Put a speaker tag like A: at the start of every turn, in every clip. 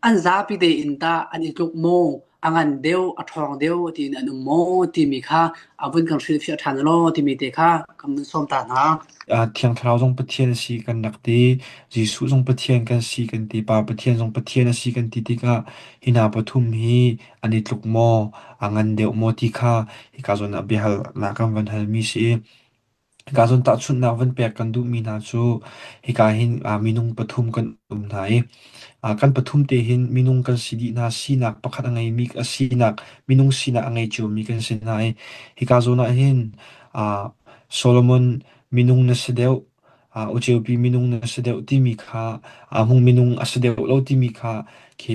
A: an zapi tein tah an i tluk maw, a ngan deuh, a ṭhawng deuh tiin an um maw timi kha a vun kan hrilhfiah ṭhan law timi te kha kan vun sawm ta hna. Thiang Thlarau zong
B: Pathian a si kan rak ti, Jesuh zong Pathian kan si kan ti, Pa Pathian zong Pathian a si kan ti tikah hi hna pathum hi an i tluk maw, a ngan deuh maw ti kha hika zawn ah biahalnak kan van hal mi si. Hika cun tahchunhnak van pek kan duhmi hna cu hika hin ah minung pathum kan um hna i ah kan pathum te hin minung kan si dih hna sinak pakhat a ngeimi a sinak minung sinak a ngei ciomi kan si hna i hika zawn ah hin ah Solomon minung na si deuh ah Uceupi minung na si deuh timi kha ah Hmung minung a si deuh lo timi kha khi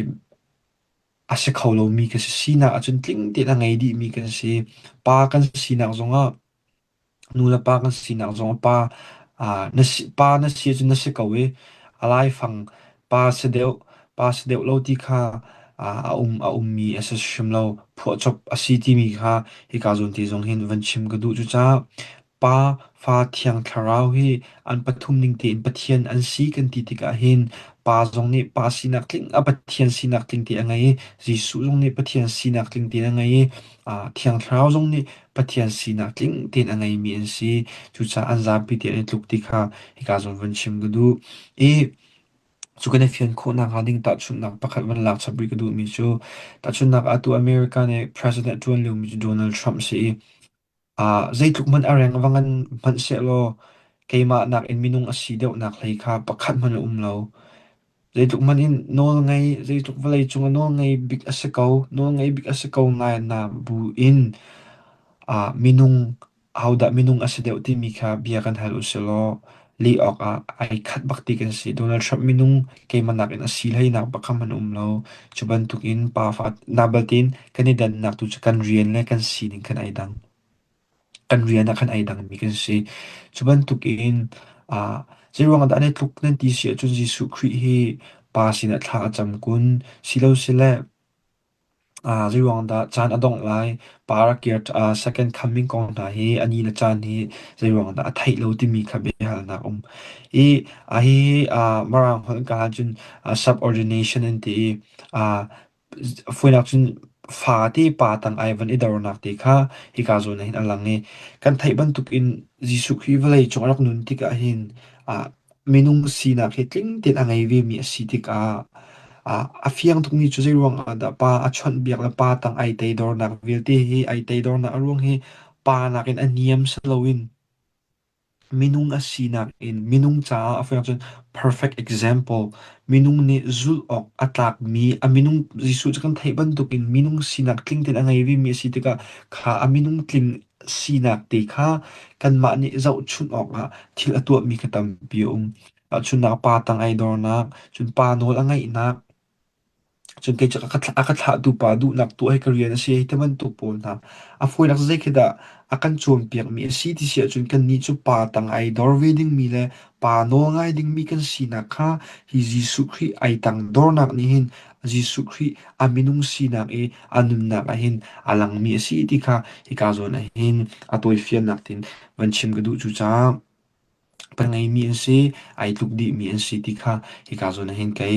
B: a si kho lomi ka si. Sinak ahcun tling tein a ngei dihmi kan si. Pa kan sinak zongah Nu le pa kan sinak zong pa, ah na si, pa na si ahcun na si ko i a laifang pa si deuh, pa si deuh lo ti kha ah a um, a ummi a si hrim lo. Phuahchop a si timi kha hika zawn te zong hin van chim ka duh cucaah. Pa, fa, thiang, thlarau hi an pathum ning tein Pathian an si kan ti tikah hin pa zong nih pa sinak tling, a Pathian sinak tling te a ngei i Jesuh zong nih Pathian sinak tling te a ngei i ah thiang thlarau zong nih Pathian sinak tling tein a ngeimi an si. Cucaah an zapi tein an tluk ti kha hika zawn van chim ka duh. I cu kan i fian khawh nakhnga ding tahchunhnak pakhat van lak chap rih ka duhmi cu tahchunhnak ah atu America nih president ṭuan liomi cu Donald Trump si i uh, zeitluk hmanh a reng bang an hmanh sehlaw keimah nakin minung a si deuhnak hlei kha pakhat hmanh a um lo. Zeitluk hmanh in nawlngei, zeitluk vawleicung ah nawlngei bik a si ko, nawlngei bik a si ko ngainah buin ah minung, ahodah minung a si deuh timi kha bia kan hal usihlaw lih awkah ai khat bak ti kan si. Donald Trump minung keimah nakin a si hleinak bak kha hman um lo. Cu bantukin pafa, na belte in kan i dannak tu cu kan rian le kan sining khan ai dang. kan rian ah khan ai dangmi kan si. Cu bantukin ah zeiruangah dah nan tluk nan ti si ahcun Jesuh Khrih hi Pa sinah thla a cam kun silosile ah zeiruangah dah caan a dongh lai Pa rak kir ah second coming kong hna hi ani le caan hi zeiruangah dah a theih lo timi kha biahalnak um. I a hihi ah Mirang holh in kal ahcun ah subordination an ti i ah Fuinak cun fa te pa tang ai van i dornak te kha hika zawn ahhin a lang i kan theih bantukin Jesuh Khrih vawlei cung a rak nun tikah hin ah minung sinak hi tling tein a ngei vemi a si tikah ah a fiang tukmi cu zeiruangah dah pa a chawnhbiak le pa tang ai teidornak vialte hi ai teidornak a ruang hi pa nakin a niam si loin Minung a sinak in minung caah a fek cun perfect example. Minung nih zulh awk a tlakmi a minung Jesuh cu kan theih bantukin minung sinak tling tein a ngei vemi a si tikah kha a minung tling sinak te kha kanmah nih zohchunh awkah thil a tuahmi kha tampi a um. Chunnak pa tang ai dornak, cun pa nawl a ngeihnak, Cun kei cu a ka thlahtu pa duhnak tuah hi ka rian a si hei ti bantuk pawl hna. A fawinak zei khi dah a kan cawnpiakmi a si ti si ahcun kannih cu pa tang ai dor ve dingmi le pa nawl ngai dingmi kan sinak kha hi Jesuh Khrih ai tang dornak nih hin Jesuh Khrih a minung sinak i a nunnak ah hin a langmi a si ti kha hika zawn ah hin a tawifiannak tin van chim ka duh cucaah kan ngeihmi an si, ai tluk dihmi an si ti kha hika zawn ah hin ka i